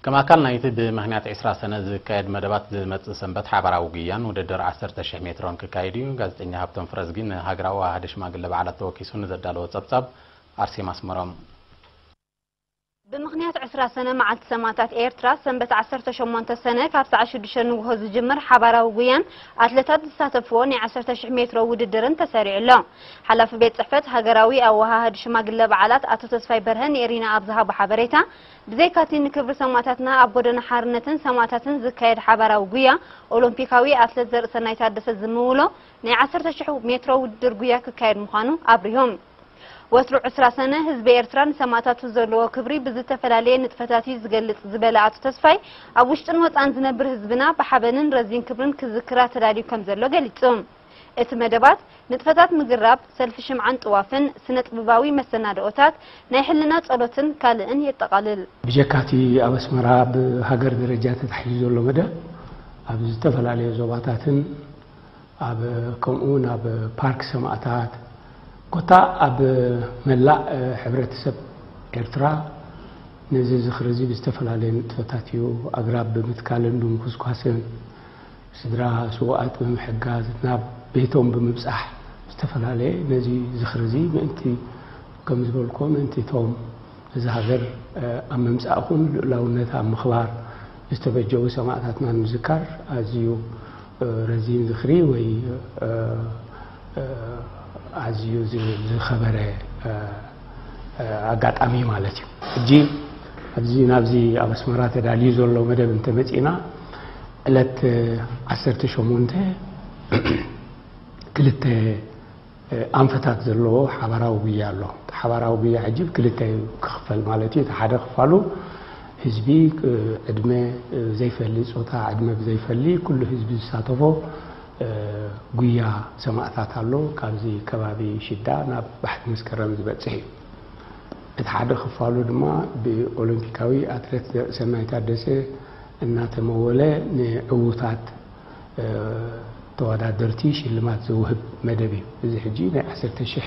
ከም ኣካል ናይቲ ብምኽንያት ዕስራ ሰነ ዝካየድ መደባት ዝመጽእ ሰንበት ሓባራዊ ጉያን ውድድር ዓሰርተ ሽሕ ሜትሮን ክካየድ እዩ። ጋዜጠኛ ሃብቶም ፍረዝጊ ንሃገራዊ ኣዋሃዲ ሽማግለ በዓላት ተወኪሱ ንዘዳለዎ ጸብጻብ ኣርሴማ ኣስመሮም። ብምኽንያት ዕስራ ሰነ መዓልቲ ሰማእታት ኤርትራ ሰንበት ዓሰርተ ሸሞንተ ሰነ ካብ ሰዓት ሽዱሽተ ንጉሆ ዝጅምር ሓባራዊ ጉያን ኣትለታት ዝሳተፍዎ ናይ ዓሰርተ ሽሕ ሜትሮ ውድድርን ተሰሪዑ ኣሎ። ሓላፊ ቤት ጽሕፈት ሃገራዊ ኣወሃሃዲ ሽማግለ በዓላት ኣቶ ተስፋይ በርሀ ንኤሪና ኣብ ዝሃቦ ሓበሬታ፣ ብዘይካ'ቲ ንክብሪ ሰማእታትና ኣብ ጎደና ሓርነትን ሰማእታትን ዝካየድ ሓባራዊ ጉያ፣ ኦሎምፒካዊ ኣትለት ዘርእሰናይ ታደሰ ዝምውሎ ናይ ዓሰርተ ሽሕ ሜትሮ ውድድር ጉያ ክካየድ ምዃኑ ኣብሪሆም። ወትሩ ዕስራ ሰነ፣ ህዝቢ ኤርትራ ንሰማእታቱ ዘለዎ ክብሪ ብዝተፈላለየ ንጥፈታት'ዩ ዝገልጽ ዝበለ ኣቶ ተስፋይ፣ ኣብ ውሽጥን ወጻእን ዝነብር ህዝብና ብሓበንን ረዚን ክብርን ክዝክራ ተዳልዩ ከምዘሎ ገሊጹ። እቲ መደባት፣ ንጥፈታት ምግራብ፣ ሰልፊ ሽምዓን ጥዋፍን፣ ስነጥብባዊ መሰናድኦታት፣ ናይ ሕልና ጸሎትን ካልእን የጠቓልል። ብጀካ እቲ ኣብ ኣስመራ ብሃገር ደረጃ ተታሒዙ ዘሎ መደብ፣ ኣብ ዝተፈላለየ ዞባታትን ኣብ ከምኡ'ውን ኣብ ፓርክ ሰማእታት ኮታ ኣብ መላእ ሕብረተሰብ ኤርትራ ነዚ ዝኽሪ'ዚ ብዝተፈላለየ ንጥፈታት እዩ፣ ኣግራብ ብምትካልን ብምኹስኳስን፣ ስድራ ስውኣት ብምሕጋዝ ናብ ቤቶም ብምብጻሕ ዝተፈላለየ ነዚ ዝኽሪ እዚ ምእንቲ ከም ዝበልኩዎ ምእንቲ እቶም ነዛ ሃገር ኣብ ምምጻእ ይኹን ልኡላውነታ ኣብ ምኽባር ዝተበጀዉ ሰማእታትና ንምዝካር ኣዝዩ ረዚን ዝኽሪ ወይ ኣዝዩ ዝኸበረ ኣጋጣሚ ማለት እዩ ሕጂ ኣብዚ ናብዚ ኣብ ኣስመራ ተዳልዩ ዘሎ መደብ እንተመፂና ዕለት 18 ክልተ ኣንፈታት ዘለዎ ሓባራዊ ጉያ ኣሎ ሓባራዊ ጉያ ሕጂ ክልተ እዩ ክኽፈል ማለት እዩ እቲ ሓደ ክፋሉ ህዝቢ ዕድመ ዘይፈሊ ፆታ ዕድመ ብዘይፈሊ ኩሉ ህዝቢ ዝሳተፎ ጉያ ሰማእታት ኣሎ ካብዚ ከባቢ ሽዳ ናብ ባሕቲ መስከረም ዝበጽሕ እዩ። እቲ ሓደ ክፋሉ ድማ ብኦሎምፒካዊ ኣትለት ዘርእሰናይ ታደሰ እናተመወለ ንዕዉታት ተወዳደርቲ ሽልማት ዘውህብ መደብ እዩ። እዚ ሕጂ ናይ ዓሰርተ ሽሕ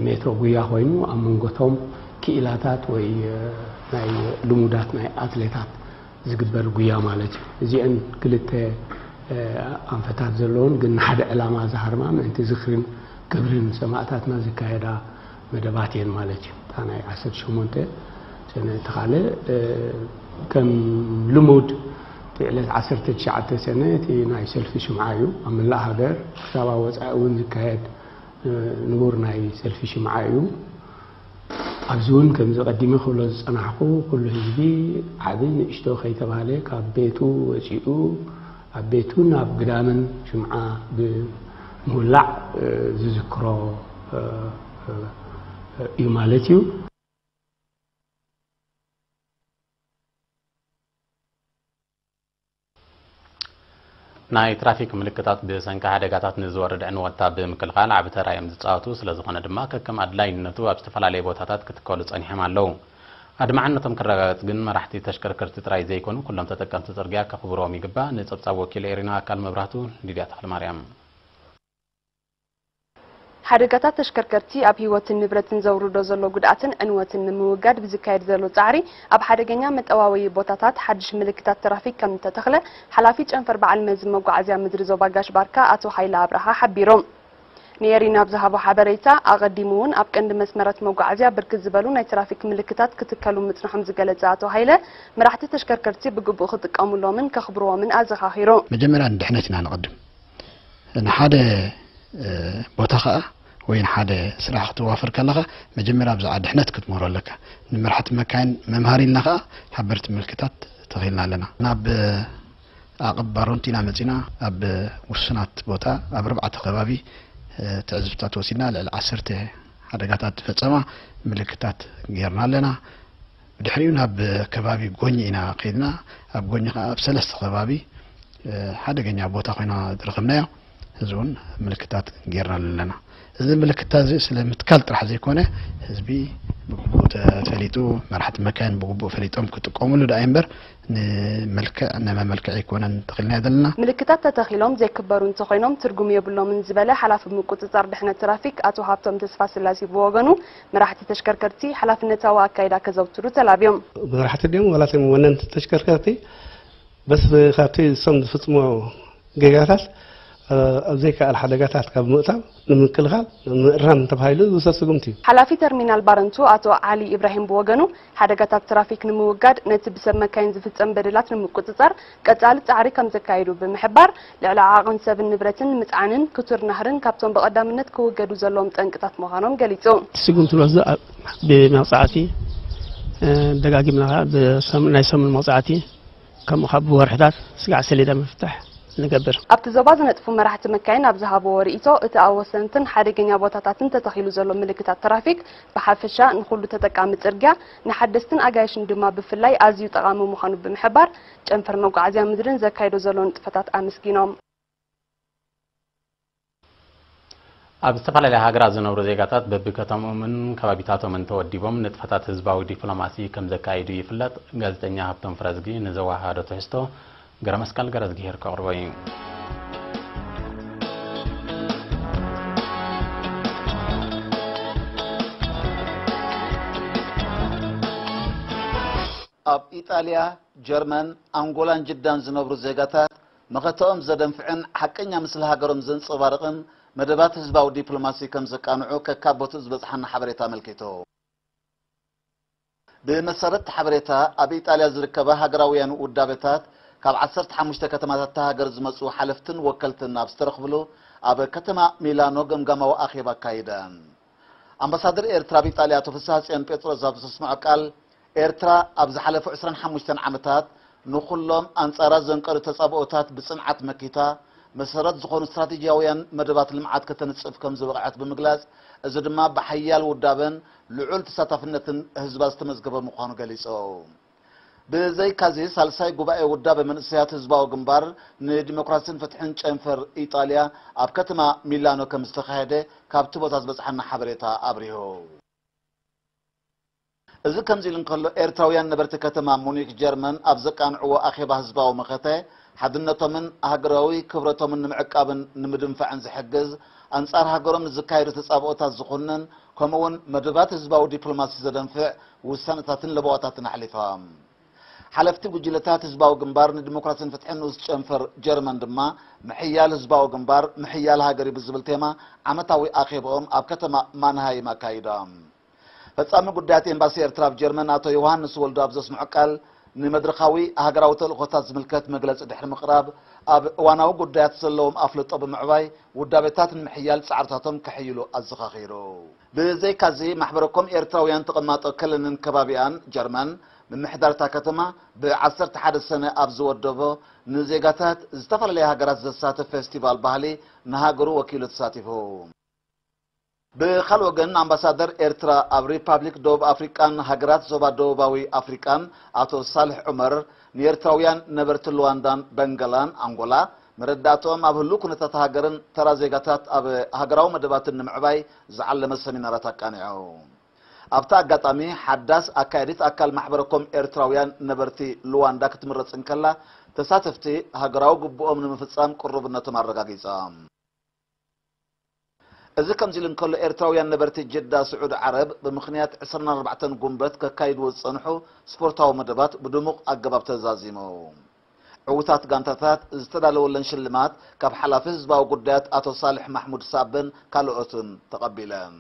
ሜትሮ ጉያ ኮይኑ ኣብ መንጎ እቶም ክኢላታት ወይ ናይ ልሙዳት ናይ ኣትሌታት ዝግበር ጉያ ማለት እዩ። እዚኤን ክልተ ኣንፈታት ዘለዎን ግን ንሓደ ዕላማ ዝሃርማ ምእንቲ ዝኽርን ክብርን ሰማእታትና ዝካየዳ መደባት እየን ማለት እዩ። እታ ናይ ዓሰርተ ሸሞንተ ሰነ እቲ ካልእ ከም ልሙድ እቲ ዕለት ዓሰርተ ትሽዓተ ሰነ እቲ ናይ ሰልፊ ሽምዓ እዩ። ኣብ መላእ ሃገር ክሳብ ኣብ ወጻኢ እውን ዝካየድ ንቡር ናይ ሰልፊ ሽምዓ እዩ። ኣብዚ እውን ከምዚ ቀዲመ ክብሎ ዝጸናሕኩ ኩሉ ህዝቢ ዓቢ ንእሽቶ ከይተባህለ ካብ ቤቱ ወጺኡ ኣብ ቤቱን ኣብ ግዳምን ሽምዓ ብምውላዕ ዝዝክሮ እዩ ማለት እዩ። ናይ ትራፊክ ምልክታት ብሰንኪ ሓደጋታት ንዝወርድ ዕንወትታ ብምክልኻል ዓቢ ተራ እዮም ዝጻወቱ። ስለዝኾነ ድማ ከከም ኣድላይነቱ ኣብ ዝተፈላለየ ቦታታት ክትከሉ ጸኒሖም ኣለዉ። ኣድማዕነቶም ክረጋገጽ ግን መራሕቲ ተሽከርከርቲ ጥራይ ዘይኮኑ ኩሎም ተጠቀምቲ ጽርግያ ከኽብርዎም ይግባእ። ንጸብጻብ ወኪል ኤሪና ኣካል መብራህቱ፣ ሊድያ ተኽለማርያም። ሓደጋታት ተሽከርከርቲ ኣብ ህይወትን ንብረትን ዘውርዶ ዘሎ ጉድኣትን ዕንወትን ንምውጋድ ብዝካየድ ዘሎ ፃዕሪ ኣብ ሓደገኛ መጠዋወዪ ቦታታት ሓዱሽ ምልክታት ትራፊክ ከምእተተኽለ ሓላፊ ጨንፈር በዓል መዚ መጓዓዝያ ምድሪ ዞባ ጋሽ ባርካ ኣቶ ሃይለ ኣብርሃ ሓቢሮም። ንኤሪና ኣብ ዝሃቦ ሓበሬታ፣ ኣቐዲሙ እውን ኣብ ቀንዲ መስመራት መጓዓዝያ ብርክት ዝበሉ ናይ ትራፊክ ምልክታት ክትከሉ ምፅንሖም ዝገለፀ ኣቶ ሃይለ፣ መራሕቲ ተሽከርከርቲ ብግቡእ ክጥቀሙሎምን ከኽብሩዎምን ኣዘኻኺሩ። መጀመርያ ንድሕነትና ነቐድም! ንሓደ ቦታ ከዓ ወይ ንሓደ ስራሕ ክትዋፈር ከለኻ መጀመርያ ብዛዕባ ድሕነት ክትምህሮ ኣለካ ንመራሕቲ መካይን መምሃሪ ኢልና ከዓ ሓበርቲ ምልክታት ተኺልና ኣለና ናብ ዓቕብ ባሮንቲ ኢና መፂና ኣብ ውሱናት ቦታ ኣብ ኣርባዕተ ከባቢ ትዕዝብትታት ወሲድና ልዕሊ ዓሰርተ ሓደጋታት ዝፈፀማ ምልክታት ገይርና ኣለና ብድሕሪኡ ናብ ከባቢ ጎኚ ኢና ከይድና። ኣብ ጎኚ ከኣ ኣብ ሰለስተ ከባቢ ሓደገኛ ቦታ ኮይና ዝረኸብናያ። እዚ እውን ምልክታት ጌርናሉ ኣለና። እዚ ምልክታ እዚ ስለ ምትካል ጥራሕ ዘይኮነ ህዝቢ ብግቡእ ተፈሊጡ መራሕቲ መካይን ብግቡእ ፈሊጦም ክጥቀሙሉ ደኣ እምበር ንመልክዕ ንመመልክዒ ኣይኮነን ተኺልናዮ ዘለና። ምልክታት ተተኺሎም ዘይክበሩ እንተኾይኖም ትርጉም የብሎምን ዝበለ ሓላፊ ምቁጽጻር ድሕነት ትራፊክ ኣቶ ሃብቶም ተስፋስላሴ ብወገኑ መራሕቲ ተሽከርከርቲ ሓላፍነታዊ ኣካይዳ ከዘውትሩ ተላብዮም። መራሕቲ ድዮም ዋላ እቶም ወነንቲ ተሽከርከርቲ በስ ካብቲ እሶም ዝፍፅሞ ጌጋታት ኣብ ዘይከኣል ሓደጋታት ካብ ምእታው ንምክልኻል ምእራም ተባሂሉ ዝውሰድ ስጉምቲ እዩ። ሓላፊ ተርሚናል ባረንቱ ኣቶ ዓሊ ኢብራሂም ብወገኑ ሓደጋታት ትራፊክ ንምውጋድ ነቲ ብሰብ መካይን ዝፍፀም በደላት ንምቁፅፃር ቀፃሊ ፃዕሪ ከምዘካይዱ ብምሕባር፣ ልዕሊ ዓቕን ሰብን ንብረትን ምፅዓንን ክቱር ናህርን ካብቶም ብቐዳምነት ክውገዱ ዘለዎም ጠንቅታት ምዃኖም ገሊፁ። እቲ ስጉምቲ ንወስዶ ብመቕፃዕቲ ደጋጊምና ከኣ ብሰሙን ናይ ሰሙን መቕፃዕቲ ከምኡ ከኣ ብወርሕታት ስግዓት ሰሌዳ ምፍታሕ ንገብር። ኣብቲ ዞባ ዝነጥፉ መራሕቲ መካይን ኣብ ዝሃብዎ ርኢቶ፣ እቲ ኣብ ወሰንትን ሓደገኛ ቦታታትን ተተኺሉ ዘሎ ምልክታት ትራፊክ ብሓፈሻ ንኹሉ ተጠቃሚ ፅርግያ፣ ንሓደስትን ኣጋይሽን ድማ ብፍላይ ኣዝዩ ጠቓሚ ምዃኑ ብምሕባር፣ ጨንፈር መጓዓዝያ ምድሪ ንዘካይዶ ዘሎ ንጥፈታት ኣመስጊኖም። ኣብ ዝተፈላለያ ሃገራት ዝነብሩ ዜጋታት በቢከተምኦምን ከባቢታቶምን ተወዲቦም ንጥፈታት ህዝባዊ ዲፕሎማሲ ከምዘካይዱ ይፍለጥ ጋዜጠኛ ሃብቶም ፍረዝጊ ንዘወሃሃዶ ትሕዝቶ ገረመስቀል ገረዝጊሄር ከቕርቦ ኢዩ። ኣብ ኢጣልያ፣ ጀርመን፣ ኣንጎላን ጅዳን ዝነብሩ ዜጋታት መኸተኦም ዘደንፍዕን ሓቀኛ ምስሊ ሃገሮም ዘንጸባርቕን መደባት ህዝባዊ ዲፕሎማሲ ከምዘቃንዑ ከካብ ቦትኡ ዝበጽሓና ሓበሬታ ኣመልኪቱ። ብመሰረት'ቲ ሓበሬታ፣ ኣብ ኢጣልያ ዝርከባ ሃገራውያን ውዳበታት፣ ካብ ዓሰርተ ሓሙሽተ ከተማታት እታ ሃገር ዝመጹ ሓለፍትን ወከልትን ኣብ ዝተረኽብሉ ኣብ ከተማ ሚላኖ ገምጋማዊ ኣኼባ ኣካይደን። ኣምባሳደር ኤርትራ ኣብ ኢጣልያ ኣቶ ፍስሃጽዮን ጴጥሮስ ኣብ ዘስምዖ ቃል፣ ኤርትራ ኣብ ዝሓለፉ ዕስራን ሓሙሽተን ዓመታት ንኹሎም ኣንጻራ ዘንቀዱ ተጻብኦታት ብጽንዓት መኪታ፣ መሰረት ዝኾኑ ስትራቴጂያውያን መደባት ልምዓት ከተንጽፍ ከምዝበቕዐት ብምግላጽ፣ እዚ ድማ ብሓያል ውዳበን ልዑል ተሳታፍነትን ህዝባ ዝተመዝገበ ምዃኑ ገሊፆም። ብዘይካ'ዚ ሳልሳይ ጉባኤ ውዳበ መንእሰያት ህዝባዊ ግንባር ንዲሞክራሲን ፍትሕን ጨንፈር ኢጣልያ ኣብ ከተማ ሚላኖ ከምዝተኻየደ ካብቲ ቦታ ዝበፅሓና ሓበሬታ ኣብሪሁ። እዚ ከምዚ ኢሉ እንከሎ ኤርትራውያን ነበርቲ ከተማ ሙኒክ ጀርመን ኣብ ዘቃንዕዎ ኣኼባ ህዝባዊ መኸተ ሓድነቶምን ሃገራዊ ክብረቶምን ንምዕቃብን ንምድንፋዕን ዝሕግዝ ኣንፃር ሃገሮም ንዝካየዱ ተፃብኦታት ዝኹንን ከምኡ'ውን መደባት ህዝባዊ ዲፕሎማሲ ዘደንፍዕ ውሳነታትን ለበዋታትን ኣሕሊፋ። ሓለፍቲ ጉጅለታት ህዝባዊ ግንባር ንዲሞክራሲን ፍትሕን ንኡስ ጨንፈር ጀርመን ድማ፣ ምሕያል ህዝባዊ ግንባር፣ ምሕያል ሃገር'ዩ ብዝብል ቴማ ዓመታዊ ኣኼባኦም ኣብ ከተማ ማንሃይም ኣካይዶም። ፈጻሚ ጉዳያት ኤምባሲ ኤርትራ ኣብ ጀርመን ኣቶ ዮውሃንስ ወልዱ ኣብ ዘስምዖ ቃል፣ ንመድረኻዊ ሃገራዊ ተልእኾታት ዝምልከት መግለጺ ድሕሪ ምቕራብ፣ ኣብ እዋናዊ ጉዳያት ዘለዎም ኣፍልጦ ብምዕባይ፣ ውዳበታት ንምሕያል ጻዕርታቶም ከሐይሉ ኣዘኻኺሩ። ብዘይካ'ዚ፣ ማሕበረ-ኮም ኤርትራውያን ተቐማጦ ከለንን ከባቢኣን፣ ጀርመን፣ ምምሕዳር እታ ከተማ፣ ብ ዓሰርተ ሓደ ሰነ ኣብ ዝወደቦ፣ ንዜጋታት ዝተፈላለያ ሃገራት ዘሳትፍ ፌስቲቫል ባህሊ፣ ንሃገሩ ወኪሉ ተሳቲፉ። ብኻልእ ወገን ኣምባሳደር ኤርትራ ኣብ ሪፓብሊክ ደቡብ ኣፍሪቃን ሃገራት ዞባ ደቡባዊ ኣፍሪቃን ኣቶ ሳልሕ ዑመር ንኤርትራውያን ነበርቲ ሉዋንዳን በንገላን ኣንጎላ መረዳእትኦም ኣብ ህሉው ኩነታት ሃገርን ተራ ዜጋታት ኣብ ሃገራዊ መደባትን ንምዕባይ ዝዓለመ ሰሚናራት ኣቃኒዖም። ኣብቲ ኣጋጣሚ ሓዳስ ኣካያዲት ኣካል ማሕበረ ኮም ኤርትራውያን ነበርቲ ሉዋንዳ ክትምረጽ እንከላ ተሳተፍቲ ሃገራዊ ግቡኦም ንምፍጻም ቅሩብነቶም ኣረጋጊጾም። እዚ ከምዚ ኢሉ እንከሎ ኤርትራውያን ነበርቲ ጅዳ ስዑድ ዓረብ ብምኽንያት ዕስራን ኣርባዕተን ጉንበት ከካይድዎ ዝጸንሑ ስፖርታዊ መደባት ብድሙቕ ኣገባብ ተዛዚሙ። ዕውታት ጋንታታት ዝተዳለወለን ሽልማት ካብ ሓላፊ ህዝባዊ ጉዳያት ኣቶ ሳልሕ ማሕሙድ ሳብን ካልኦትን ተቐቢለን።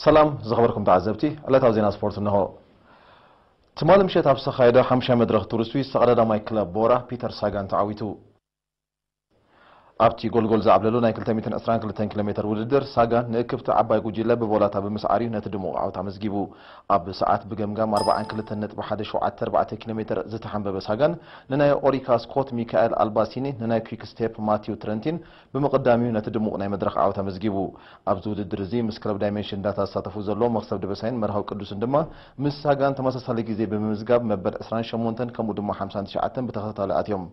ሰላም ዝኸበርኩም ተዓዘብቲ ዕለታዊ ዜና ስፖርት እነሆ። ትማሊ ምሸት ኣብ ዝተኻየደ ሓሙሻይ መድረኽ ቱር ስዊስ ተቐዳዳማይ ክለብ ቦራ ፒተር ሳጋን ተዓዊቱ። ኣብቲ ጎልጎል ዝዓብለሉ ናይ ክልተ ሚእትን ዕስራን ክልተን ኪሎ ሜተር ውድድር ሳጋን ንእክብቲ ዓባይ ጉጅለ ብቮላታ ብምስዓር እዩ ነቲ ድሙቕ ዓወት ኣመዝጊቡ። ኣብ ሰዓት ብገምጋም ኣርብዓን ክልተን ነጥቢ ሓደ ሸውዓተ ኣርባዕተ ኪሎ ሜተር ዝተሓንበበ ሳጋን ንናይ ኦሪካ ስኮት ሚካኤል ኣልባሲኒ ንናይ ኲክ ስቴፕ ማቲው ትረንቲን ብምቕዳም እዩ ነቲ ድሙቕ ናይ መድረኽ ዓወት ኣመዝጊቡ። ኣብዚ ውድድር እዚ ምስ ክለብ ዳይመንሽን ዳታ ዝሳተፉ ዘለዉ መኽሰብ ደበሳይን መርሃዊ ቅዱስን ድማ ምስ ሳጋን ተመሳሳሊ ግዜ ብምምዝጋብ መበል ዕስራን ሸሞንተን ከምኡ ድማ ሓምሳን ትሽዓተን ብተኸታታሊ ኣትዮም።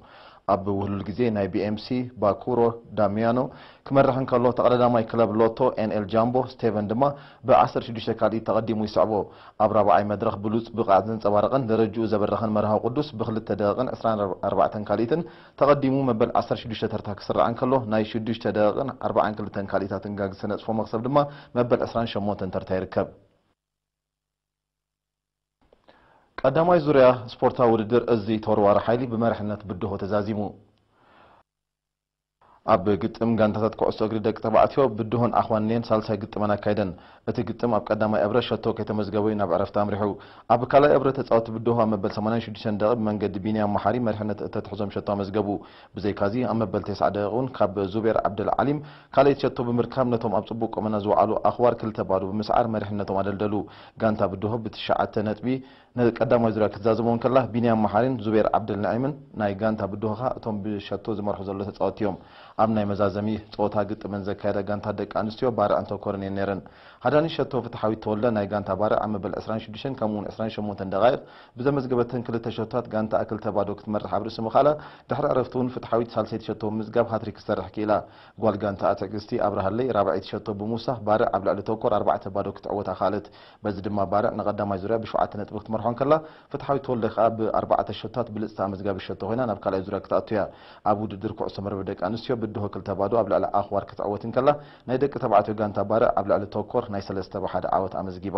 ኣብ ውህሉል ግዜ ናይ ቢኤምሲ፣ ባኩሮ፣ ዳሚያኖ ክመርሕ እንከሎ ተቐዳዳማይ ክለብ ሎቶ ኤንኤል ጃምቦ ስቴቨን ድማ ብ ዓሰርተ ሽዱሽተ ካልኢት ተቐዲሙ ይስዕቦ። ኣብ ራብዓይ መድረኽ ብሉጽ ብቕዓት ዘንጸባረቐን ደረጅኡ ዘበረኸን መርሃዊ ቅዱስ ብ ክልተ ደቒቕን ዕስራን ኣርባዕተን ካልኢትን ተቐዲሙ መበል ዓሰርተ ሽዱሽተ ተርታ ክስራዕ እንከሎ፣ ናይ ሽዱሽተ ደቕን ኣርባዓን ክልተን ካልኢታትን ጋግ ዝተነጽፎ መኽሰብ ድማ መበል ዕስራን ሸሞንተን ተርታ ይርከብ። ቀዳማይ ዙርያ ስፖርታዊ ውድድር እዚ ተወርዋሪ ሓይሊ ብመሪሕነት ብድሆ ተዛዚሙ። ኣብ ግጥም ጋንታታት ኩዕሶ እግሪ ደቂ ተባዕትዮ ብድሆን ኣኽዋንን'የን ሳልሳይ ግጥመን ኣካይደን። እቲ ግጥም ኣብ ቀዳማይ እብረ ሸቶ ከይተመዝገበ'ዩ ናብ ዕረፍቲ ኣምሪሑ። ኣብ ካልኣይ እብረ ተጻወትቲ ብድሆ ኣብ መበል ሰማንያን ሽዱሽተን ደቒቕ ብመንገዲ ቢንያም መሓሪ መሪሕነት እተትሕዞም ሸቶ ኣመዝገቡ። ብዘይካ'ዚ ኣብ መበል ቴስዓ ደቒቕ'ውን ካብ ዙቤር ዓብደል ዓሊም ካልኣይቲ ሸቶ ብምርካብ ነቶም ኣብ ጽቡቕ ቁመና ዝወዓሉ ኣኽዋር ክልተ ባዶ ብምስዓር መሪሕነቶም ኣደልደሉ። ጋንታ ብድሆ ብትሽዓተ ነጥቢ ንቀዳማይ ዙርያ ክትዛዘሞም ከላ፣ ቢንያም መሓሪን ዙቤር ዓብደልነዒምን ናይ ጋንታ ብድሆኻ እቶም ብሸቶ ዝመርሑ ዘሎ ተጻወትቲ'ዮም። ኣብ ናይ መዛዘሚ ጸወታ ግጥመን ዘካየዳ ጋንታ ደቂ ኣንስትዮ ባርዕ እንተኮርን እየን ነይረን። ሃዳኒት ሸቶ ፍትሓዊት ተወልደ ናይ ጋንታ ባርዕ ኣብ መበል ዕስራን ሽዱሽተን ከምኡ'ውን ዕስራን ሸሞንተን ደቓይቕ ብዘመዝገበተን ክልተ ሸቶታት ጋንታኣ ክልተ ባዶ ክትመርሕ ኣብ ርእሲ ምኽኣላ ድሕሪ ዕረፍቲ'ውን ፍትሓዊት ሳልሰይቲ ሸቶ ብምምዝጋብ ሃትሪክ ክትሰርሕ ክኢላ። ጓል ጋንታኣ ትዕግስቲ ኣብርሃለይ ራብዐይቲ ሸቶ ብምውሳኽ ባርዕ ኣብ ልዕሊ ተኮር ኣርባዕተ ባዶ ክትዕወታ ክኣለት። በዚ ድማ ባርዕ ንቐዳማይ ዙርያ ብሸውዓተ ነጥቢ ክትመርሖ እንከላ፣ ፍትሓዊት ተወልደ ከኣ ብኣርባዕተ ሸቶታት ብልጽቲ ኣመዝጋቢት ሸቶ ኮይና ናብ ካልኣይ ዙርያ ክትኣቱ እያ። ኣብ ውድድር ኩዕሶ መርበብ ደቂ ኣንስትዮ ብድሆ ክልተ ባዶ ኣብ ልዕሊ ኣኽዋር ክትዕወት እንከላ፣ ናይ ደቂ ተባዕትዮ ጋንታ ባርዕ ኣብ ልዕሊ ቶኮር ናይ ሰለስተ ብ ሓደ ዓወት ኣመዝጊባ።